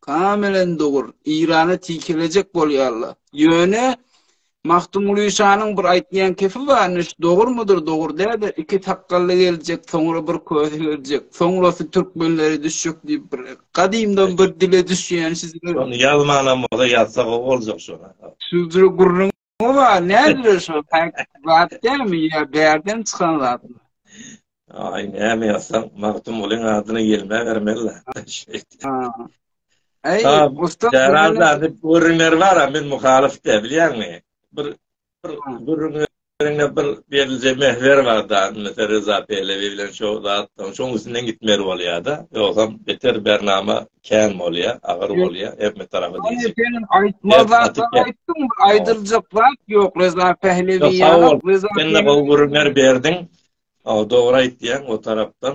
Kamelen dogry. Eýrana tikelejek bolýarlar. Ýöne Magtymguly şanyň bir aýtýan kepi barmyş, dogrymydyr, dogry däl-de, iki sakgally geljek, soňra bir kösi geljek, soňrasy türkmenlere düşjek diýip bir gadymdan bir dile düşýän şizler. Şony ýazmanam
bolsa ýazsa gowy boljak şony. Şizler gürrüň
Oba, nädir şu? Zat dämi ya, bärden
çykan zat. Ay, näme ýazsaň, Magtym ulyň adyna gelmä bermeli.
Ay, usta. Jarazda bir
görünler bar, men muhalif de, bilýäňmi? Bir bir görünlerine bir berilje mehver bar da, mesela Reza Pehlevi bilen şu zatdan, şoň üstünden gitmeli bolýar da. Ýogsam beter bernama Kän bolýa, agyr bolýa, her bir tarapy degişik. Sen aýtmazdan
sen aýtdyň, aýdyljak zat ýok, Reza Pählewi ýaly, Reza Pählewi. Sen-de gowy gürrüňler
berdiň. Dogry aýtýaň, o tarapdan.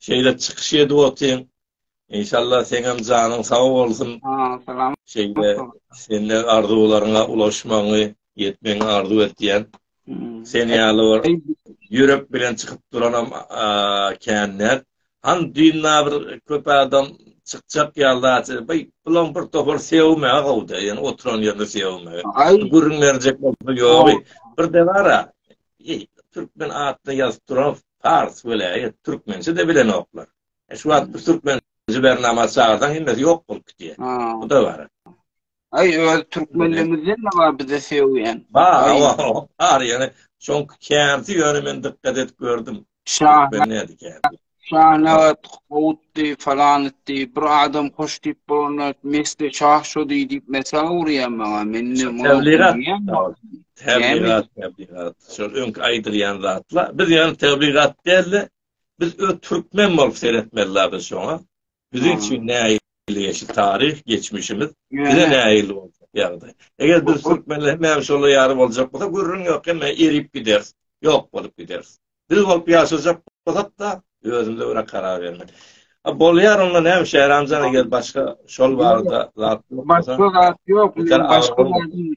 Şeýle çykyş edip otyň. Inşallah seňem janyň sag bolsun. Salam.
Şeýle
sende arzuwlaryňa ulaşmagyňy, ýetmegiňi arzuw etýän. Sen ýaly bor. Ýürek bilen çykyp duranam kän nät. Han düýnna bir köp adam çykjak ýalda aty. Baý, bulan bir topar sewme agawda, ýöne oturan ýerine sewme. Gürrüň berjek bolsa ýogy. Bir de bar a. Eý, türkmen atda ýazyp duran Fars welaýat türkmençe de bilenoklar. Şu wagt türkmen jibernama çagyrsaň hemmesi ýok bolup gitýär. Bu da bar. Ay öz
Türkmenlerimizden ne var bize sevgen. Bar,
bar yani. Şoň kärsi ýöne men dikkat edip gördüm.
Şahnawat gowutdy falan etdi. Bir adam hoş diýip bolanda mesle şah şo diýip diýip mesel urýan maňa. Men ne tebligat. Tebligat,
tebligat. Şol öňki aýdylýan zatlar. Biz ýöne tebligat däldi. Biz öz türkmen bolup seretmeli biz şoňa. Biziň üçin näil ýeşil taryh, geçmişimiz, bize näil boljak ýagdaý. Eger biz türkmenler hemmämiz şolar ýaly boljak bolsa, gürrüň ýok, hemme erip gideris, ýok bolup gideris. Biz bolup ýaşajak bolsak-da, özümize görä karar bermeli. A bolýar onda näme Şähramjan eger başga şol barada zat ýok bolsa. Başga zat
ýok, başga zat ýok.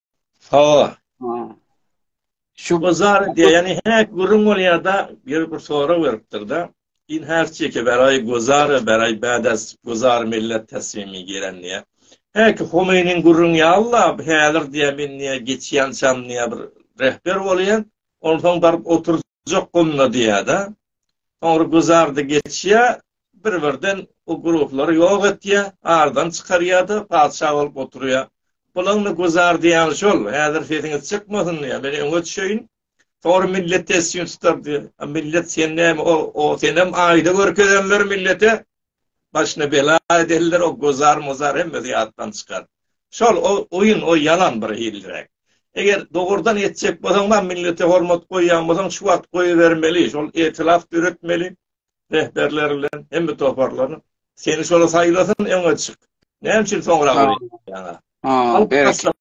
Sawa. Şu bazar diýeni häk gürrüň bolýarda, ýeri bir sora beripdir-de. Din her çeke beraý gozara beraý bädas gozar millet teslimi gelen diýä. Häk Homeýniň gürrüň ýalla häzir diýä men diýä geçýänçam diýä bir rehber bolýan. Onsoň baryp oturjak gunda diýä-de. Soňra gozarda geçýä, bir-birden bu ruhlary ýok etýär, aradan çykarýar-da, patyşa bolup oturýar. Bulaň-da güzar diýýäni şol. Häzir sesiňiz çykmasyn diýýär. Men öňe düşeýin. Soň millet tesjini tutar diýýär. A millet sen näme, o senem aýda görkezenler millete. Başyna bela edenler, o güzar-muzar hemmesi ýatdan çykar. Şol o oýun, o ýalan bir hilliräk. Eger dogrudan etjek bolsaň-da millete hormat goýýan bolsaň, şu wagt goýbermeli. Şol etilaf döretmeli. rehberleri bilen hemme toparlaryny seni şola saýlasyn öňe çyk. Näme üçin soňra bolýar? Ha, berekella.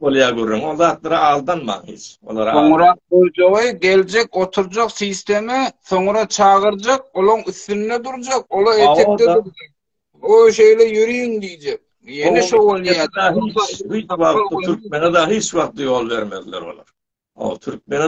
Bolýar gürrüň. O zatlara aldanma hiç. Olara. Soňra
goýjagy geljek, oturjak sistema, soňra çagyrjak, olaň üstünde durjak, ola etekde durjak. O şeýle ýöriň diýjek. Ýene şo bolýar. Hiç
wagt türkmene da hiç wagt ýol bermezler olar. O türkmene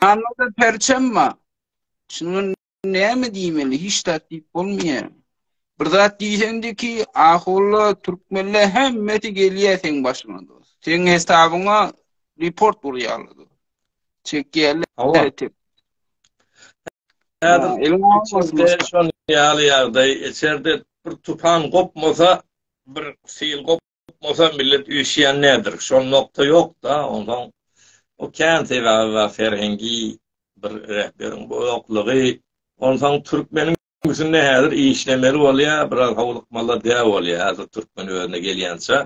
Anlada perçemma. Şunuň näme diýmeli? Hiç zat diýip bolmaýar. Bir zat diýseňdi ki, ahulla türkmenle hemmesi gelýä seň başyňa dost. Seň hesabyňa report urýarlar dost. Çekýärler. Hawa. Häzir
içinde şon ýaly ýagdaý, içerde bir tupan gopmasa, bir sil gop Tutmasa millet üýşýän nädir? Şol nokta ýok-da, onsoň o kän sebäbi bar, serhengi bir rähberiň bu ýoklugy. Onsoň türkmeniň üstünde häzir işlemeli bolýar, biraz howlukmalar däp bolýar häzir türkmen özüne gelýänçä.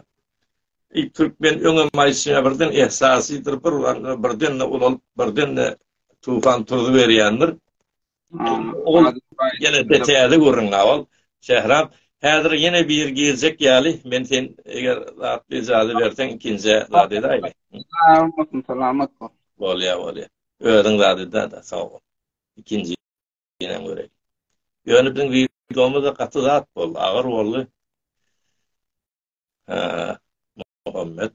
E, türkmen öňe maýyşýan birden esasidir, bir birden-de ulalyp, birden-de tufan turuzyberýändir. Ýene-de täze gürrüň gabaw, Şährap. Häzir ýene biri girjek ýaly, men sen eger zat yjazy berseň, ikinjä zat edäýme. Bolmasyn,
salamat bol. Bolýar, bolýar.
Özüň zat ede-de, sag bol. Ikinjinem göreýin. Ýöne biziň wideomyz-a gaty zat boldy, agyr boldy. Muhammet.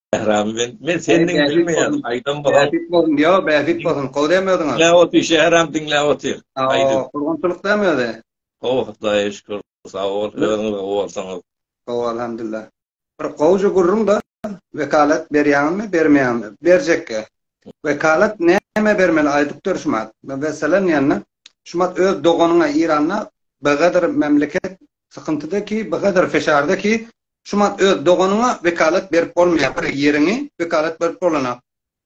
Şähram men men senden bilmeýän aýdan bolsa. Bähbit bolsun diýo, bähbit
bolsun. Gowy dämi özüňe? Diňläp otyr Şähram
diňläp otyr. Aýdy. Gurgunçylyk
dämi özi? Gowy Hudaýa
şükür. Sag bol özüňiz gowy bolsaňyz. Gowy alhamdullah.
Bir gowja gürrüň de wekalat berýäňizmi bermeýäňizmi? Berjekge. Wekalat näme bermeli aýdyp dur Şumat. Meselem ýanna Şumat öz doganyňa Iranda begadyr memleket Sykyntyda ki bgadyr feşarda ki şu man öz doganyňa wekalat berip bolmaýar bir ýeriňi wekalat berip bolana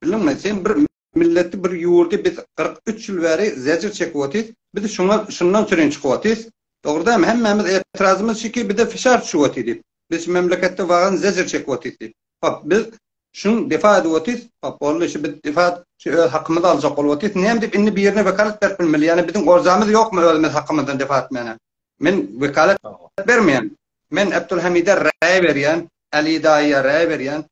bildiňmi sen bir milleti bir ýurdy biz kyrk üç ýyl bäri zejir çekip otyrys biz şuňa şundan sürin çykyp otyrys dogry dälmi hemmämiz etirazymyz şiki bize feşar düşüp otyr diýip biz şu memleketde wagan zejir çekip otyrys diýip. Hop, biz şuny defa edip otyrys. Hop, boldy, şu biz defa şu öz hakymyzy aljak bolup otyrys. Näme diýip indi birine wekalat berip bilmeli? Ýagny biziň orzamyz ýokmy özümiz hakymyzdan defa etmäne? Men wekalat bermeýän. Men Abdulhamida raý berýän, Aly daýyýa raý berýän,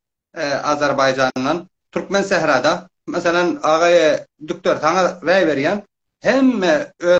Azerbaýjandan, Türkmen sährada, meselem, agaýe Dükder saňa raý berýän. Hemme öz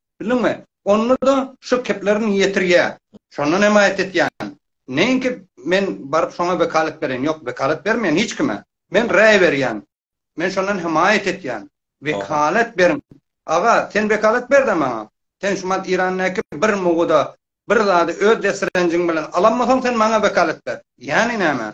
Bildiňmi? Onda-da şu keplerini ýetirýär. Şondan hem aýat etýän. Neýinki men baryp şoňa wekalat bereýin? Ýok, wekalat bermeýän hiç kime. Men raý berýän. Men şondan hem aýat etýän. Wekalat beriň. Aga, sen wekalat ber-de maňa. Sen şumat Irandaky bir muguda bir zady öz desirenjiň bilen alanmasaň sen maňa wekalat ber. Ýany näme?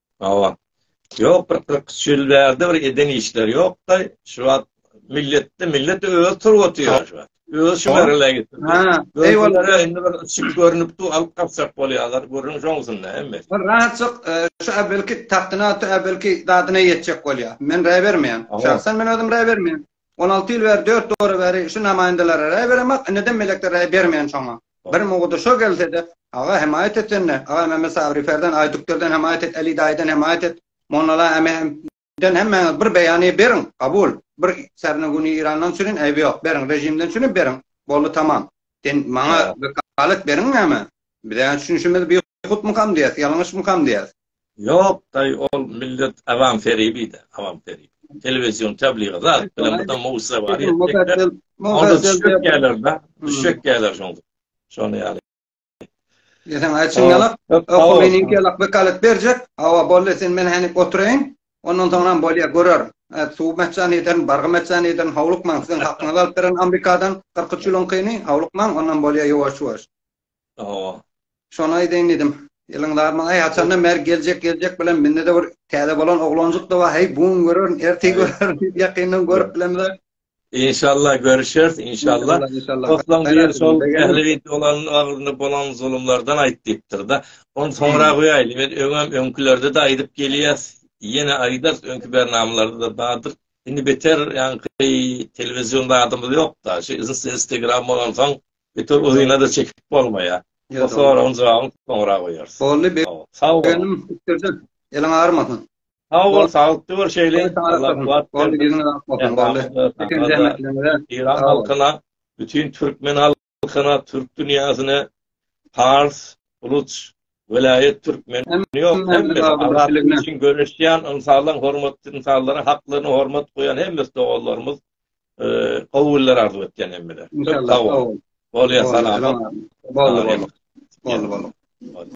Hawa.
Ýok, bir kyrk üç ýyl bärde bir eden işleri ýokdy. Şu wagt milletde millet öz turbaty ýör şu wagt. Öz şu merhile ýetdi. Ha, eýwallah. Indi bir çyk görnüpdi, alyp gaçjak bolýarlar. Gürrüň şoňsunda hemme. Bir rahatjyk,
şu äwvelki tagtyna, şu äwvelki zadyna ýetjek bolýar. Men raý bermeýän. Şahsan men özüm raý bermeýän. On alty ýyl bäri, dört döwür bäri şu namaýyndalara raý beremok, indidem melekler raý bermeýän şoňa. Bir mugdy şo gelse-de, Aga, hemaýat et sen-de! Aga, Mämmet Sabry Ferden, Aýdükderden hemaýat et, Äli daýydan hemaýat et, Monnala Ämehemden hemmäňiz bir beýany beriň, kabul! Bir särine güni Irandan sürin, äýbi ýok, beriň, režimden sürin, beriň, boldy, tamam! Sen maňa wekalat beriň näme? Biz-ä düşünişimiz, Biýhutmykam diýýäs, ýalňyşmykam diýýäs? Yok daýy
ol millet awam feribide awam ferip. Televizion tebliga zat bilen bir de mowsa bar etmekde. Onda düşek geler da düşek geler şoň. Şony ýaly.
Ýesen aý çyn ýalak. Oku meniň ýalak bir kalyp berjek. Awa boldy sen men hany oturaýyn. Ondan soňam bolýa görer. Suw metjan ederin bargy metjan ederin howlukmaň siziň hakyňyzy alyp beren Amerikadan 43 ýylyň kyny howlukmaň ondan bolýa ýuwaş ýuwaş. Hawa. Şony aýdaýyn diýdim. Ýylyň darmagy aý açandan bäri geljek geljek bilen mende-de bir täze bolan oglanjyk da bar. Heý bu gün görerin, ertir görerin diýip ýakyndan görüp bilemizok. Inşallah
görüşeris, inşallah. Soslaň biri şol ähli wideolarynyň agzynda bolan zulumlardan aýt diýipdir-de. Ony soňra goýaýly. Biz öňem öňkülerde-de aýdyp gelýäs. Ýene aýdarys, öňki bernamalarda-da bardyr. Indi beter ýaňky telewizion zadymyz ýok-da. Şu Instagram bolansoň Beter uzynada çekip bolmaýa. Bu soragyň jogabyny soňra goýarys. Boldy be. Sag bol.
Begenim pikirde.
Eliň
agyrmasyn. Sag bol,
saglyktda bol şeýle. Allah kuwat bersin. Boldy,
ýüňüň ak bolsun. Boldy. Çeken
zähmetlerňize. Eýran halkyna, bütin türkmen halkyna, türk dünýäsine, pars, buluç, welaýat türkmen ýok, hemmesi azatlyk üçin göreşýän ynsanlaryň hormatly ynsanlaryň haklaryna hormat goýan hemmesi doganlarymyz, gowy günler arzuw etýän hemmede. Sag boluň. Bolýa salam.
Bolýa.
Bolýa.